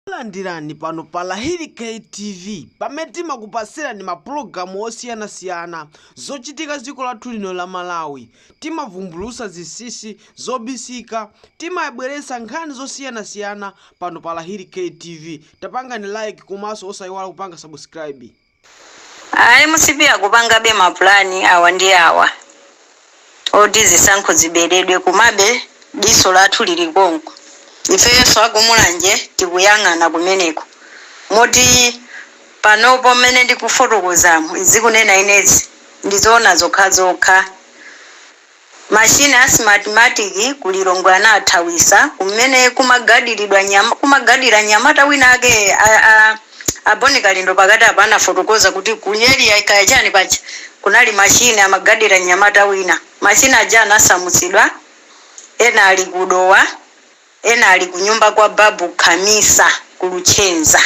Takulandirani pano pa Lahiri K TV pamene timakupasirani ma program osiyana siyana zochitika dziko lathu lino la Malawi. Timavumbulusa zinsinsi zobisika. Timabweresa nkhani zosiyana siyana pano pa Lahiri K TV. Tapangani like komaso osayiwala kupanga subscribe. A mcp akupangabe ma plan awa ndi awa oti zisankho ziberedwe komabe diso lathu lili konko. Ifeyonso aku Mulanje tikuyang'ana kumeneko moti panopo mmene ndikufotokozamu ndikunena inezi ndi zoona zokhazokha. Machine a Smartmatic ku Lilongwe anathawisa kumene kumagadira nyamata wina ake a Boni Kalindo pakati apa anafotokoza kuti ku area kaya chani paja kunali machine amagadira nyamata wina machine aja anasamutsidwa ena ali ku Dowa Ena ali kunyumba kwa Babu Khamisa ku Luchenza.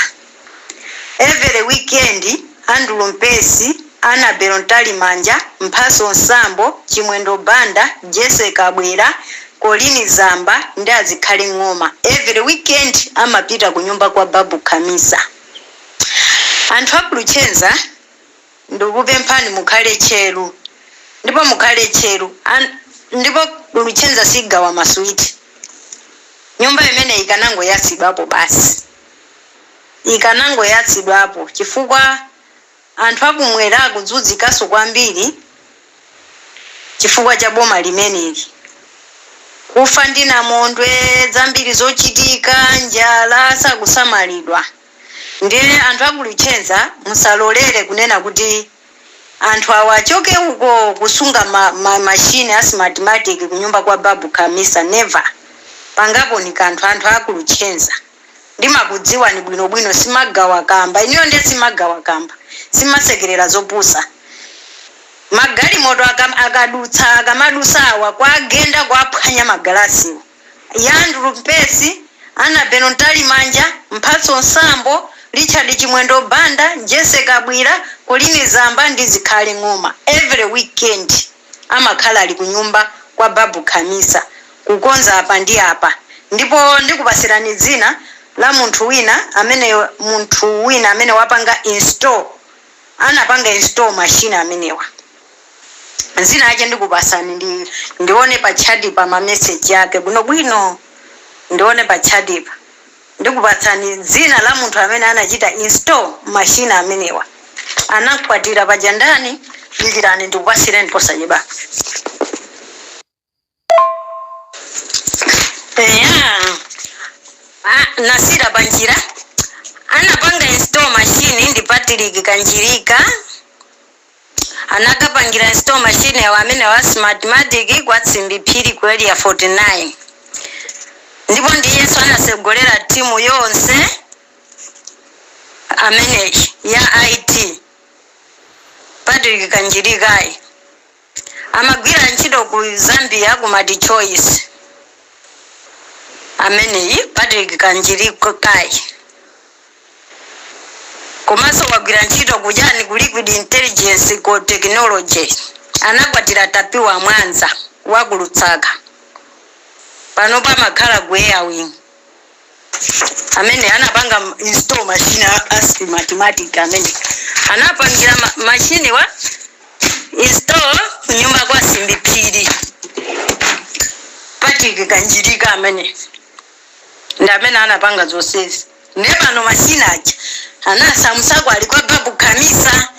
Every weekend, Andrew Mpesi, Anabel Mtalimanja, Mphatso Sambo, Chimwendo Banda, Jessy Kabwila, Colleen Zamba ndi Azikhale Ng'oma every weekend amapita kunyumba kwa Babu Khamisa. Anthu a ku Luchenza. Ndikukupemphani mukhale tcheru ndipo mukhale tcheru ndipo ku Luchenza sigawa ma sweet nyumba imeneyi ikanangoyatsidwapo basi ikanangoyatsidwapo chifukwa anthu akumwera akuzunzikaso kwambiri chifukwa cha boma limeneli kufa ndi namondwe zambiri zochitika njala sakusamalidwa. Ndiye anthu aku Luchenza musalolere kunena kuti anthu awa achoke uko kusunga machine a smartmatic kunyumba kwa Babu Khamisa never. Pangaponi kanthu anthu aku Luchenza. Ndimakudziwani bwino bwino simagawa kamba inuyo ndiye simagawa kamba. Simasekerera zopusa. Magalimoto akadutsa akamadutsa awa kuwagenda kuwaphwanya magalasiwo. Ya Andrew Mpesi, Anabel Mtalimanja, Mphatso Sambo, Richard Chimwendo Banda, Jessy Kabwila, Colleen Zamba ndi Zikhale Ng'oma every weekend amakhala ali kunyumba kwa Babu Khamisa kukonza apa ndi apa ndipo ndikupasirani dzina la munthu wina amene munthu wina amene wapanga install anapanga install machine amenewa dzina lache ndikupasani ndione pa chati pa ma message ake bwino bwino ndione pa chati pa ndikupatsani dzina la munthu amene anachita install machine amenewa anamkwatira paja ndani dikirani ndikupasireni posachedwapa Yeah. Ah, nasiyira panjira anapanga install machine ndi patrick kanjirika anakapangira install machine yawo amene wa smartmatic kwa simbi phiri ku area 49 ndipo ndiyenso anatsogolera timu yonse amene ya it patrick kanjirikayi Amagwira ntchito ku Zambia ku Multichoice ameneyi Patrick Kanjirikayi komanso wagwira ntchito ku chani ku Liquid Intelligence ku Technology anakwatira Tapiwa Mwanza wa ku Lusaka panopa amakhala ku Airwing. amene anapanga install machine a Smartmatic amene anapangira machinewa install kunyumba kwa Simbi Phiri Patrick Kanjirika amene ndi amene anapanga zonsezi ne pano machine aja anasamusako ali kwa Babu Kamisa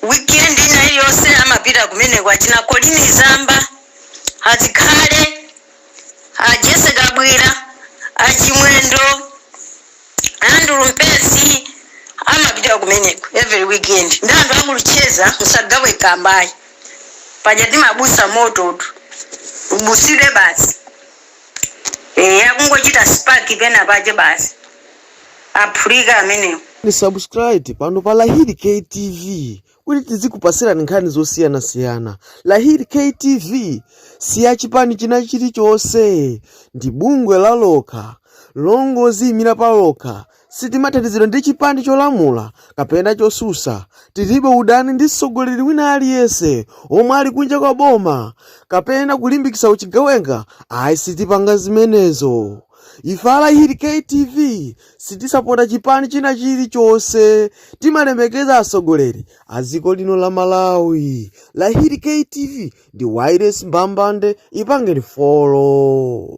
weekend ina iliyonse amapita kumeneko achina Colin Zamba a Zikhale a Jessy Kabwira, a Chimwendo, Andrew Mpesi amapita kumeneko every weekend ndi anthu a Mulu tcheza musagawe Kamba ayi paja ati mabutsa mototu ubutsidwe basi eya akungochita spark pena pache basi aphulika amenewo Ni subscribe pano pa Lahiri KTV kuti tizikupatsirani nkhani zosiyanasiyana lahiri ktv si ya chipani china chilichonse ndi bungwe la lokha longo oziyimira pa lokha sitimathandizidwa ndi chipani cholamula kapena chotsutsa tilibe udani ndi mtsogoleri wina aliyense omwe ali kunja kwa boma kapena kulimbikitsa uchigawenga ayi ife sitipanga zimenezo ife a lahiri ktv sitisapota chipani china chilichonse timalemekeza atsogoleri a dziko lino la malawi lahiri ktv ndi wireless mbambande ipangeni follow